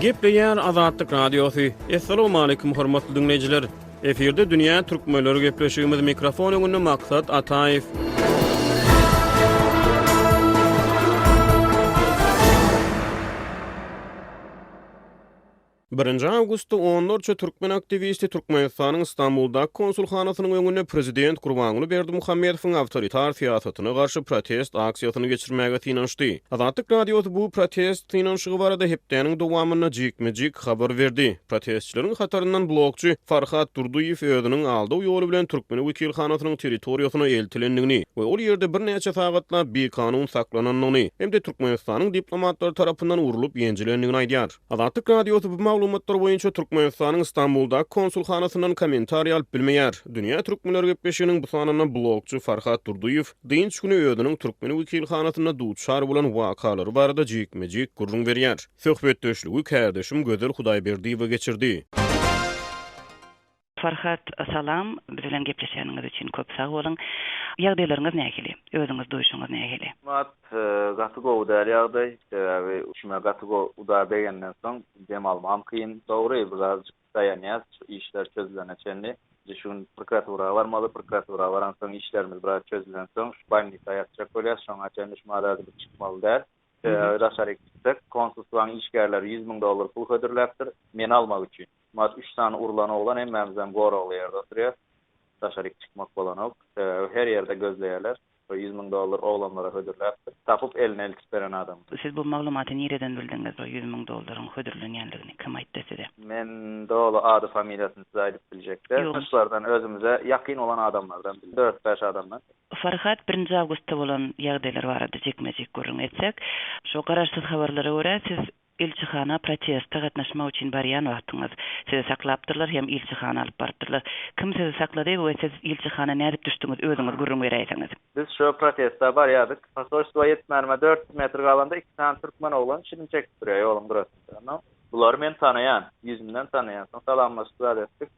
Gepleýär Azatlyk Radiosy. Assalamualaikum hormatly dinleýjiler. Efirde dünýä türkmenleri gepleşigimiz mikrofon öňünde maksat Ataýew. Birinji awgustda onlarça türkmen aktiwisti Türkmenistanyň Stambuldaky konsulhanasynyň öňünde prezident Gurbanguly Berdimuhamedowyň awtoritar syýasatyna garşy protest aksiýasyny geçirmäge synanyşdy. Azatlyk Radiosy bu protest synanyşygy barada hepdäniň dowamynda jikme-jik habar berdi. Protestçileriň hataryndan blogçy Farhat Durdyýew özüniň aldaw ýoly bilen türkmen wekilhanasynyň territoriýasyna eltilendigini we ol ýerde birnäçe sagatlap bikanun saklanandygyny hem-de Türkmenistanyň diplomatlary tarapyndan urlup-ýenjilendigini aýdýar. Azatlyk Radiosy bu maglumatlar boýunça Türkmenistanyň Stambuldaky konsulhanasyndan kommentariý alyp bilmeýär. Dünýä türkmenleri gepleşiginiň bu sanynda blogçy Farhat Durdyýew dynç güni özüniň türkmen wekilhanasynda duçar bolan wakalary barada jikme-jik gürrüň berýär. Söhbetdeşligi kärdeşim Gözel Hudaýberdiýewa geçirdi. Farhat salam, biz bilen gepleşeniňiz üçin köp sag boluň. Ýagdaýlaryňyz nähili? Özüňiz duýşuňyz nähili? Mat, gaty gowy däl ýagdaý. Sebäbi içime gaty gowy uda degenden soň dem almagam kyn. Dogry, birazjyk daýanýas şu işler çözülene çenli. Indi şu gün prokuratura barmaly, prokuratura baransoň işlerimiz biraz çözülensoň şu bolnisa ýatjak bolýas. Şoňa çenli şu maral gidip çykmaly däl. Sebäbi daşaryk çyksek, konsulstwanyň işgärleri ýüz müň dollar pul hödürläpdir, meni almak üçin. Mat üç sany urlan oglan hemmämizem goragly ýerde oturýas. Daşaryk çykmak bolanok. Sebäbi her ýerde gözleýärler. Şo ýüz müň dollar oglanlara hödürläpdir. Tapyp eline iltip beren adam. Siz bu maglumaty nireden bildiňiz bu ýüz müň dollaryň hödürlenýänligini kim aýtdy size? Men doly ady familiýasyny size aýdyp biljek däl. Tanyşlardan özümize ýakyn bolan adamlardan bildim. Dört bäş adamdan. Farhat birinji awgustda bolan ýagdaýlar barada jikme jik gürrüň etsek. Şo garaşsyz habarlara görä siz Ilçihana proteste gatnaşmak üçin barýan wagtyňyz, sizi saklapdyrlar hem ilçihana alyp barypdyrlar. Kim sizi saklady we siz ilçihana nädip düşdüňiz, özüňiz gürrüň beräýseňiz? Biz şu proteste barýardyk. Posolstwa ýetmänime dört ýüz metr galanda iki sany türkmen oglan şirin çekip durýar ýoluň gyrasynda. Soň. Bulary men tanaýan. Ýüzümden tanaýan. Soň salamlaşyp zat etdik.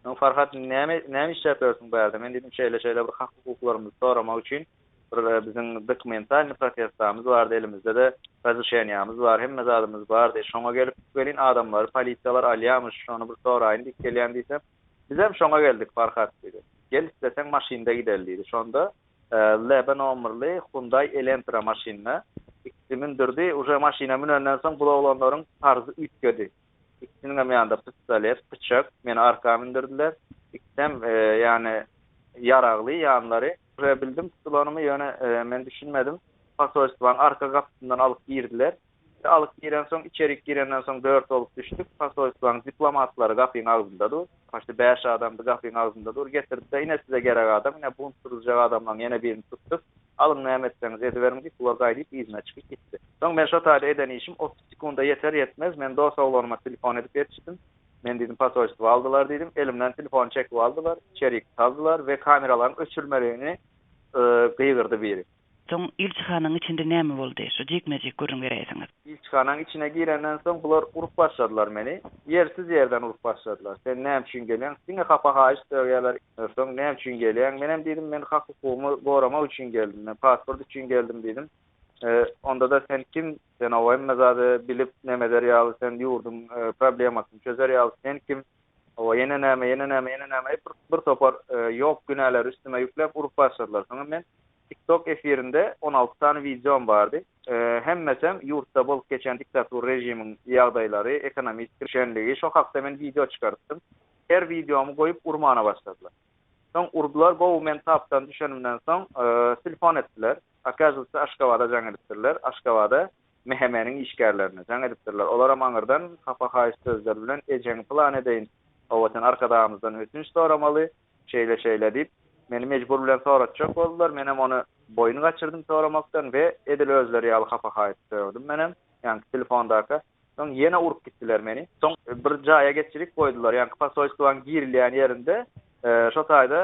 Soň Farhat näme näme işläp ýörsüň bu ýerde? Men diýdim şeýle-şeýle bir hak-hukuklarymyzy soramak üçin Bir biziň dokumentalny protestamyz bardy, elimizde-de razrişeniýamyz bar, hemme zadymyz bardy. Şoňa gelip welin adamlary polisiýalar alýamyş, şony bir soraýyn diýip gelýän diýsem, Bizem şoňa geldik, Farhat diýdi. Gel isleseň maşynda gideli diýdi. Şonda LB nomerli Hyundai Elentra maşynyna ikisi mündürdi. Uje maşyna münenden soň bu oglanlaryň parzy üýtgedi. Ikisiniňem ýanynda pistolet, pyçak, meni arka mündürdiler. Ikisem, ýagny, ýaragly ýanlary. Ture bildim tutulanymy, ýöne men düşünmedim. Posolstwanyň arka gapysyndan alyp girdiler. Alyp girensoň, içerik girenden soň dört bolup düşdük. Posolstwanyň diplomatlary gapyň agzynda dur. Paşda bäş adamdy, gapyň agzynda dur. Getirdi-de, ine size gerek adam, ine bunt turuzjak adamlaryň ýene birini tutduk. Alyň näme etseňiz ediberiň diýip, bular gaýdyp yzyna çykyp gitdi. Soň men şo taýda eden işim otuz sekunda ýeter-ýetmez, men dos oglanma telefon edip ýetişdim. Men diýdim posolstwa aldylar diýdim. Elimden telefony çekip aldylar, içerik saldylar we kameralaryň öçürmeligini gygyrdy biri. Soň ilçihanaň içinde näme boldy? Şu jikme-jik gürrüň beräýseňiz. Ilçihanaň içine girenden soň bular urup başladylar meni. Ýersiz ýerden urup başladylar. Sen näme üçin gelýäň? Diňe hapa-haýyş döwýärler. Soň näme üçin gelýäň? Menem diýdim, men hak-hukugymy goramak üçin geldim, men pasport üçin geldim diýdim. Onda-da sen kim, sen oba hemme zady bilip nemeder ýaly, sen ýurduň problemasyny çözer ýaly, sen kim, oba ýene näme, ýene näme, ýene näme aýyp bir topar ýok günäleri üstüme ýükläp urup başladylar. Soňam men TikTok efirinde on alty sany wideom bardy. Hemmesem ýurtda bolup geçen diktatur režimiň ýagdaýlary, ekonomist şenligi, şo hakda men wideo çykarypdym. Her wideomy goýup urmana başladylar. Soň urdylar gowy men tapdan düşenimden soň telefon etdiler. Okazywatsa Aşgabada jaň edipdirler. Aşgabada MHM-niň işgärlerine jaň edipdirler. Olaram aňyrdan hapa haýyş sözler bilen ejeňi pylan edeýin, owaten arkadagymyzdan ötünç soramaly, şeýle şeýle diýip meni mejbur bilen soratjak boldular. Menem ony boýun gaçyrdym soramakdan we edil özleri ýaly hapa haýyş sögdim menem. Ýaňky telefondaka Soň ýene urup gitdiler meni. Soň bir jaýa geçirip goýdular, ýaňky posolstwaň girilýän ýerinde, şo taýda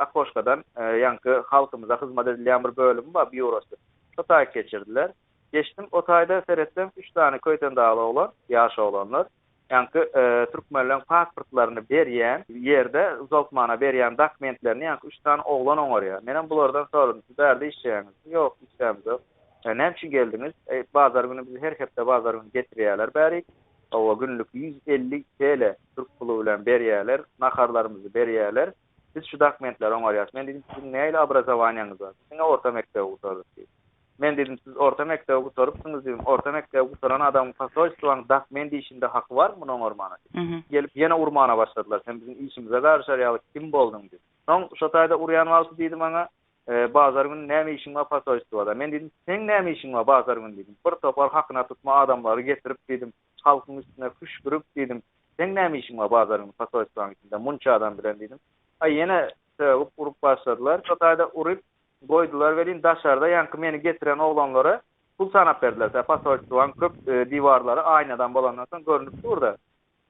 okoşkadan ýaňky halkymyza hyzmat edilýän bir bölümi bar, býurosy. Şo taýy geçirdiler. Geçdim, o taýda seretsem, üç sany köýtendagly oglan, ýaş oglanlar, ýaňky türkmenleň pasportlaryny berýän ýerde uzaltmana berýän dakmentlerini ýaňky üç sany oglan oňarýar. Menem bulardan soradym, Siz bärde işleýäňizmi? Ýok, işlämizok. Näme üçin geldiňiz? Eý, bazar güni bizi her hepde bazar güni getirýärler bärik. Hawa, günlük ýüz elli TL türk puly bilen berýärler, naharlarymyzy berýärler. Biz şu dokumentleri oňarýas. Men diýdim, Siziň nähili obrazowaniýaňyz bar? Biz diňe orta mekdebi gutardyk diýdim. Men diýdim, Siz orta mekdebi gutarypsyňyz diýdim. Orta mekdebi gutaran adamyň posolstwaň dokument işinde haky barmy muny oňarmana diýdim. Gelip ýene urmana başladylar. Sen biziň işimize garyşar ýaly kim bolduň diýip. Soň şo taýda urýan wagty diýdi maňa, Bazar güni näme işiň bar posoýstwoda? Men diýdim, Seň näme işiň bar bazar güni diýdim. Bir topar hakyna tutma adamlary getirip diýdim, halkyň üstüne hüşgürip diýdim, Seň näme işiň bar bazar güni posoýstwaň içinde munça adam bilen diýdim. Aý ýene sögüp urup başladylar. Şo taýda urup goýdular welin daşarda ýaňky meni getiren oglanlara pul sanap berdiler. Posoýstwaň köp diwarlary aýnadan bolandan soň görünip dur-da.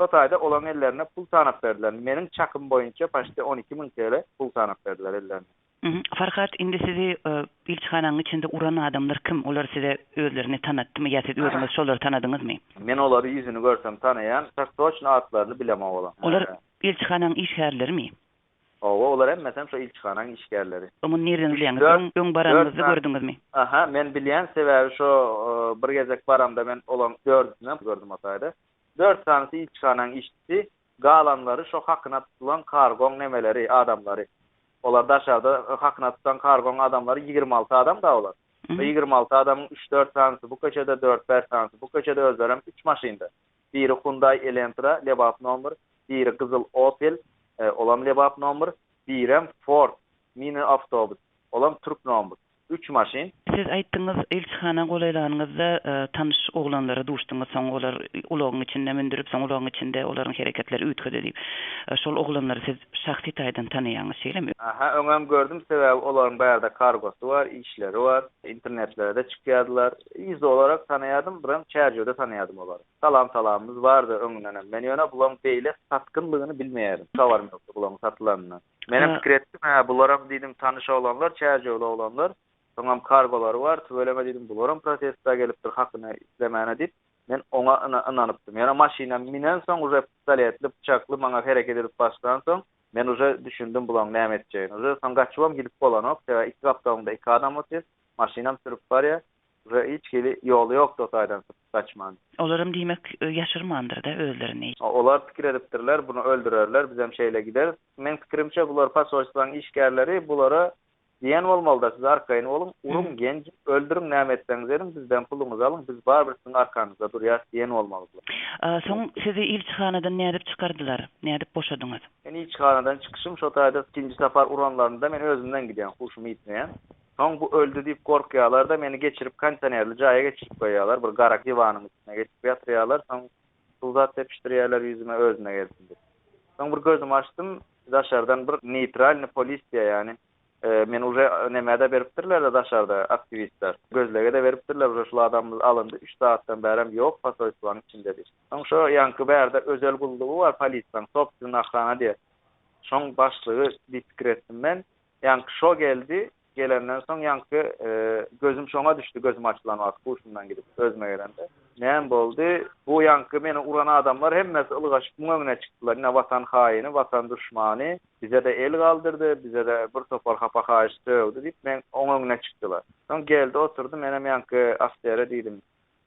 Şo taýda olaryň ellerine pul sanap berdiler. Meniň çakym boýunça paçte on iki müň TL pul sanap berdiler ellerine. Farhat, indi sizi ilçihanaň içinde uran adamlar kim? Olar size özlerini tanatdymy ýa siz özüňiz şolary tanadyňyzmy? Men olary ýüzüni görsem tanaýan, çak-toçna atlaryny bilemok olaň. Olar ilçihanaň işgärlerimi? Hawa, olar hemmesem şo ilçihanaň işgärleri. Muny nireden bilýäňiz? Öň, öň baranyňyzda gördüňizmi? Aha, men bilýän, sebäbi şo bir gezek baramda men olaň dördüsinem gördüm o taýda. Dört sanysy ilçihanaň işçisi, galanlary şo hakyna tutulan kargoň nemeleri, adamlary. Olar daşarda hakyna tutan kargoň adamlary ýigrimi alty adam-da olar. Şo ýigrimi alty adamyň üç-dört sanysy bu köçede, dört-bäş sanysy bu köçede, özlerem üç maşynda. Biri Hyundai Elentra, lebap nomer, biri gyzyl Opel, olam lebap nomer, birem Ford, mini-awtobus, olam türk nomer. Üç maşyn. Siz aýtdyňyz, ilçihana golaýlanyňyzda tanyş oglanlara duşduňyz, soň olar ulagyň içinde mündürip, soň ulagyň içinde olaryň hereketleri üýtgedi diýip. Şol oglanlary siz şahsy taýdan tanaýaňyz, şeýlemi? Aha, öňem gördüm, sebäbi olaryň bärde kargosy bar, işleri bar, internetlere-de çykýardylar. Ýüzi olarak tanaýardym, birem çärjewde tanaýardym olary. Salam-salamymyz bardy öňünden hem. Men ýöne bulaň beýle satgynlygyny bilmeýärdim. Habarym ýokdy bulaň satylanyna. Menem pikir etdim, hä, bularam diýdim tanyş oglanlar, çärjewli oglanlar, soňam kargolary bar, tüweleme diýdim, bularam protestda gelipdir hakyny islemäne diýip, men oňa ynanypdym. Ýöne maşyna minensoň, uje pistoletli, pyçakly maňa hereket edip başlansoň, men uje düşündim bulaň näme etjegini. Uje soň gaçybam gidip bolanok, sebäbi iki gapdalymda iki adam otyr, maşynam sürüp barýar, uje hiç hili ýoly ýokdy o taýdan. gaçman. Olaram diýmek, ýaşyrmandyr-da özlerini. Olar pikir edipdirler, buny öldürerler, bizem şeýle gideris. Meň pikirimçe, bular posolstwaň işgärleri, bulara diýen bolmaly-da, siz arkaýyn boluň, uruň, genjiň, öldüriň, näme etseňiz ediň, bizden puluňyzy alyň, biz barybir siziň arkaňyzda durýarys diýen bolmaly bular. Soň sizi ilçihanadan nädip çykardylar, nädip boşadyňyz? Men ilçihanadan çykyşym şo taýda ikinji sapar uranlarynda men özümden gidýän, huşumy ýitmeýän. Soň bu öldi diýip gorkýarlar-da, meni geçirip kondisionerli jaýa geçirip goýýarlar, bir gara diwanyň üstüne geçirip ýatyrýarlar, soň suw zat sepişdirýärler ýüzüme özüme gelsin diýip. Soň bir gözümi açdym, daşardan bir neýtralny polisiýa ýany, meni uje nämä-de beripdirler-de daşarda aktiwistler, gözlege-de beripdirler, uje şul adamymyz alyndy, üç sagatdan bärem ýok, posoýstwanyň içinde diýip. Soň şo ýaňky bärde özel gullugy bar polisiýaň, sobstwennaý ohrana diýýär, şoň başlygy diýip pikir etdim men. Ýaňky şo geldi, gelenden soň ýaňky gözüm şoňa düşdi, gözüm açylan wagt huşumdan gidip, özüme gelemde. Näme boldy? Bu ýaňky meni uran adamlar hemmesi ylgaşyp muň öňüne çykdylar, ine watan haýyny, watan duşmany, bize-de el galdyrdy, bize-de bir topar hapa-haýyş sögdi diýip, men oň öňüne çykdylar. Soň geldi oturdy, menem ýaňky Aftere diýdim,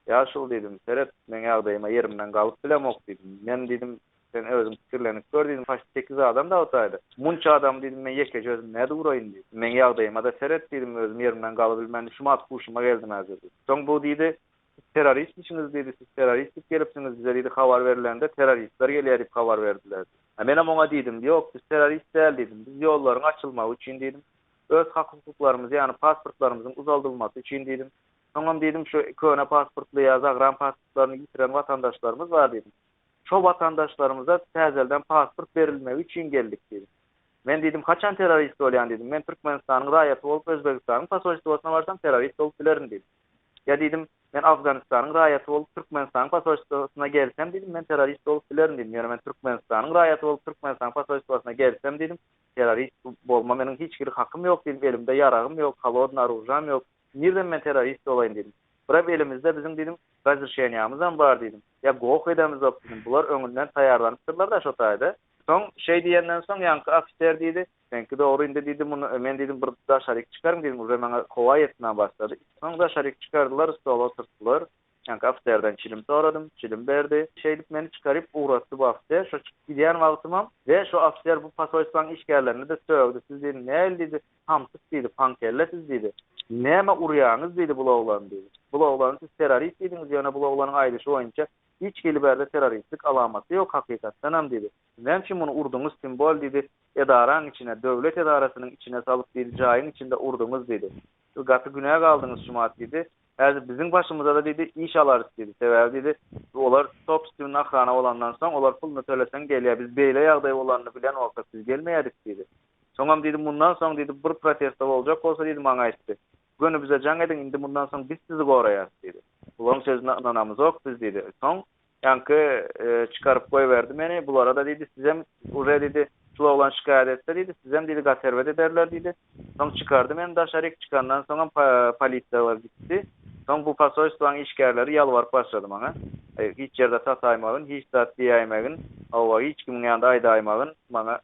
Ýaşuly diýdim, seret, meň ýagdaýyma ýerimden galyp bilemok diýdim. Men diýdim, sen özüň pikirlenip gör diýdim, haşt sekiz adam dagtaýda. Munça adamy diýdim, men ýekeje özüm nädip uraýyn diýdim. Meň ýagdaýyma-da seret diýdim, özüm ýerimden galybilmän şumat huşuma geldim häzir diýdim. Soň bu diýdi, Siz terroristmiçiňiz diýdi, siz terrorist diýip gelipsiňiz, bize diýdi habar berilende terroristler gelýär diýip habar berdiler diýdi. Menem oňa diýdim, ýok biz terrorist däl diýdim, biz ýollaryň açylmagy üçin diýdim, öz hak-hukuklarymyzy ýagny pasportlarymyzyň uzaldylmasy üçin diýdim. Soňam diýdim, şu köne pasportly ýa zagram pasportlaryny ýitiren watandaşlarymyz bar diýdim. Şo watandaşlarymyza täzelden pasport berilmegi üçin geldik diýdim. Men diýdim, haçan terrorist bolýan diýdim. Men Türkmenistanyň raýaty bolup Özbegistanyň posolstwosyna barsam terrorist bolup bilerin diýdim. Ýa diýdim, men Afganistanyň raýaty bolup Türkmenistanyň posolstwosyna gelsem diýdim, men terrorist bolup bilerin diýdim. Ýöne men Türkmenistanyň raýaty bolup Türkmenistanyň posolstwosyna gelsem diýdim, terrorist bolma meniň hiç hili hakym ýok diýdim, elimde ýaragym ýok, holodny orujam ýok. Nirden men terrorist bolaýyn diýdim. Birem elimizde biziň diýdim razrişeniýamyzam bar diýdim. Ýa goh edemiz zok diýdim. Bular öňünden taýýarlanypdyrlar-da şo taýda. Soň şeý diýenden soň ýaňky ofiser diýdi, Seňki dogry indi diýdi, muny men diýdim bir daşaryk çykaryn diýdim, uje maňa howa etmän başlady. Soň daşaryk çykardylar, stola oturtdylar. Ýaňky ofiserden çilim soradym, çilim berdi. Şeýdip meni çykaryp ugratdy bu ofiser. Şo çykyp gidýän wagtymam we şo ofiser bu posolstwaň işgärlerini-de sögdi. Siz diýdi, nähili diýdi, Samsyk diýdi, paňkelle siz diýdi, nämä urýaňyz diýdi bul oglany diýdi. Bul oglany siz terrorist diýdiňiz, ýöne bul oglanyň aýdyşy boýunça hiç hili bärde terroristlik alamaty ýok hakykatdanam diýdi. Siz näme üçin muny urduňyz kim bol diýdi, edaraň içine, döwlet edarasynyň içine salyp diýdi, jaýyň içinde urduňyz diýdi. Siz gaty günä galdyňyz Şumat diýdi. Häzir biziň başymyzada diýdi iş alarys diýdi. Sebäbi diýdi, olar sobstwny ahrana bolandan soň olar puluny töleseň gelýär, biz beýle ýagdaý bolanyny bilen bolsak biz gelmeýädik diýdi. Soňam diýdi, Mundan soň diýdi, bir protestde boljak bolsa diýdi, maňa aýtdy. Göni bize jaň ediň, indi mundan soň biz sizi goraýarys diýdi. Bularyň sözüne ynanamyzok biz diýdi. Soň ýaňky çykaryp goýberdi meni. Bulara-da diýdi, sizem uje diýdi, şul oglan şikaýat etse diýdi, sizem diýdi, gaterbet ederler diýdi. Soň çykardy meni daşaryk, çykandan soňam polisiýalar gitdi. Soň bu posolstwaň işgärleri ýalbaryp başlady maňa. Hiç ýerde sataýmagyn, hiç zat diýäýmegin, hawa, hiç kimiň ýanynda aýdaýmagyn maňa.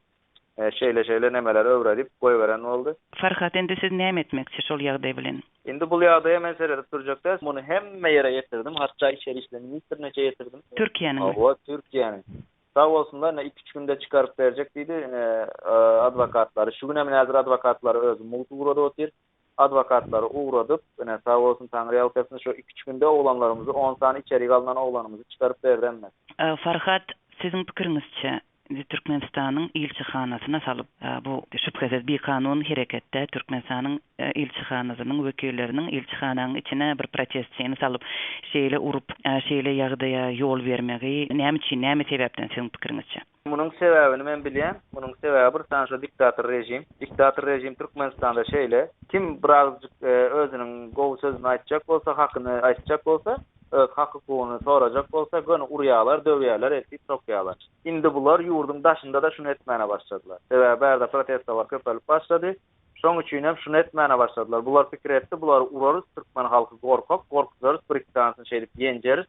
Şeýle-şeýle nemeleri öwredip goýberen boldy. Farhat indi siz näme etmekçi şol ýagdaý bilen? Indi bul ýagdaýa men seredip durjak däl. Muny hemme ýere ýetirdim. Hatda içeri işler ministriniçe ýetirdim. Türkiýäniňmi? Hawa, Türkiýäniň. Sag bolsunlar, ine iki-üç günde çykaryp berjek diýdi. Ine adwokatlary. Şu günem ine häzir adwokatlary özüm mugt ugrady otyr. adwokatlary ugradyp, ine, sag bolsun taňryýalkasyn, şu iki-üç günde oglanlarymyzy, on sany içerik alnan oglanymyzy çykaryp berdi hemme. Farhat, siziň pikiriňizçe, indi Türkmenistanyň ilçihanasyna salyp, bu, şübhesiz, bikanun hereket-dä, Türkmenistanyň ilçihanasynyň wekilleriniň ilçihanaň içine bir protestçini salyp, şeýle urup, şeýle ýagdaýa ýol bermegi näme üçin, näme sebäpden, siziň pikiriňizçe? Munuň sebäbini men bilýän, munuň sebäbi bir sany şo diktator režim. Diktator režim Türkmenistanda şeýle, kim birazjyk özüniň gowy sözüni aýtjak bolsa, hakyny aýtjak bolsa, öz hak-hukugyny sorajak bolsa, göni urýarlar, döwýärler, eltip sokýarlar. Indi bular ýurduň daşynda-da şuny etmäne başladylar. Sebäbi bärde protestolar köpelip başlady. Şoň üçin hem şuny etmäne başladylar. Bular pikir etdi, bulary urarys, türkmen halky gorkak, gorkuzarys, bir-iki sanysyny şeýdip ýenjeris.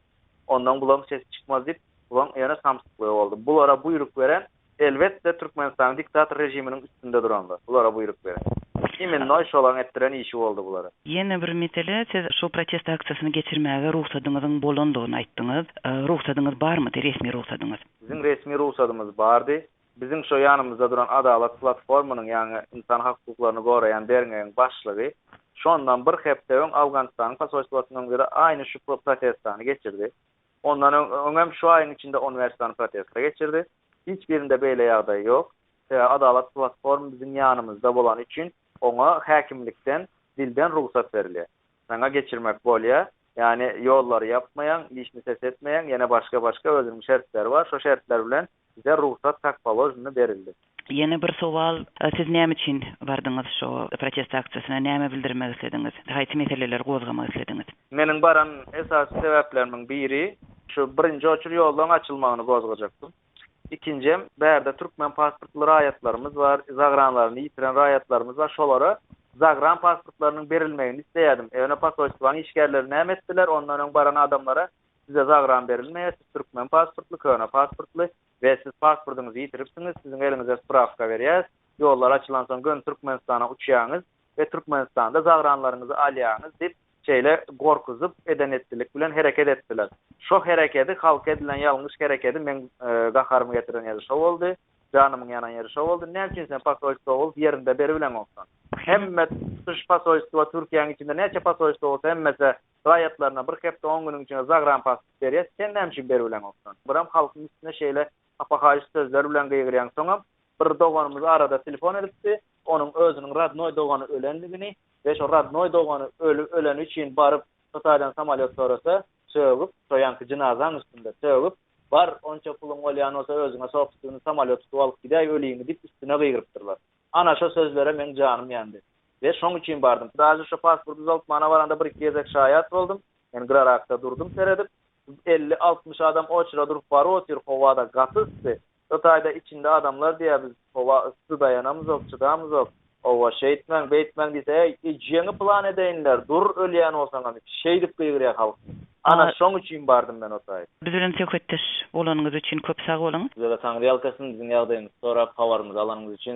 Ondan bularyň sesi çykmaz diýip, bularyň ýöne samsyklygy boldy. Bulara buýruk beren, elbetde, Türkmenistanyň diktator režiminiň üstünde duranlar, bulara buýruk beren. Imennoý şolaryň etdiren işi boldy bulara. Ýene bir mesele, siz şu protest aksiýasyny geçirmäge rugsadyňyzyň bolandygyny aýtdyňyz. Rugsadyňyz barmydy, resmi rugsadyňyz? Biziň resmi rugsadymyz bardy. Biziň şo ýanymyzda duran Adalat platformanyň ýaňy ynsan hukuklaryny goraýan derňegiň başlygy şondan bir hepde öň Owganystanyň posolstwasynyň öňünde-de aýny şu protestany geçirdi. Ondan öňem şu aýyň içinde on bäş sany protesta geçirdi. Hiç birinde beýle ýagdaý ýok. Adalat platformy biziň ýanymyzda bolany üçin oňa häkimlikden dilden rugsat berilýär. Saňa geçirmek bolýa, ýagny ýollary ýapmaýaň, işini ses etmeýäň, ýene başga başga özüniň şertleri bar, şo şertler bilen bize rugsat tak položnny berildi. Ýene bir sowal, siz näme üçin bardyňyz şo protest aksiýasyna, näme bildirmek islediňiz, haýsy meseleleri gozgamak islediňiz? Meniň baran esasy sebäplerimiň biri, şu birinji oçur ýollaryň açylmagyny gozgajakdym. Ikinjem, bärde türkmen pasportly raýatlarymyz bar, zagranlaryny ýitiren raýatlarymyz bar, şolara zagran pasportlarynyň berilmegini isleýärdim. Ýöne posolstwanyň işgärleri näme etdiler, ondan öň baran adamlara size zagran berilmeýär, siz türkmen pasportly, köne pasportly we siz pasportyňyzy ýitiripsiňiz, siziň eliňize sprawka berýäs, ýollar açylansoň göni Türkmenistana uçýaňyz we Türkmenistanda zagranlaryňyzy alýaňyz diýip, Şeýle gorkuzyp eden-etdilik bilen hereket etdiler. Şo herekedi, halka edilen ýalňyş herekedi meň gaharymy getiren ýeri şo boldy, janymyň ýanan ýeri şo boldy. Näme üçin sen posolstwowol ýerinde beribileňoksan? Hemme tutuş posolstwa Türkiýäň içinde näçe posolstwa bolsa hemmese raýatlaryna bir hepde-on günüň içinde zagrampasport berýär. Sen näme üçin beribileňoksan? Biram halkyň üstüne şeýle hapahaýyş sözler bilen gygyrýaň. Soňam Bir doganymyz arada telefon edipdi, onuň özüniň rodnoý dogany ölendigini we şo rodnoý dogany öleni üçin baryp Hytaýdan samolýot sorasa, sögüp, şo ýanky jynazaň üstünde, sögüp, Bar, onça puluň bolýan bolsa özüňe şo üstüni samolýot tutup alyp gidäý öliňi diýip üstüne gygyrypdyrlar. Ana şo sözlere meň janym ýandy. We şoň üçin bardym. Daže şo pasport düzaltmana baranda bir-iki gezek şaýat boldum. Men gyrarakda durdum seredip. Elli-altmyş adam oçra durup baryp otyr, howa-da gaty yssy. Hytaýda içinde adamlar diýýär biz howa yssy daýanamyzok çydamyzok owa şeýtmäň beýtmäň diýse äý ejeňi pylan edeýinler dur ölýän bolsaňam içi şeýdip gygyrýar halkymyz ana şoň üçin bardym men otaý. Biz bilen söhbetdeş bolanyňyz üçin köp sag boluň. Sizede taňryýalkasyn biziň ýagdaýymyzy sorap habarymyzy alanyňyz üçin.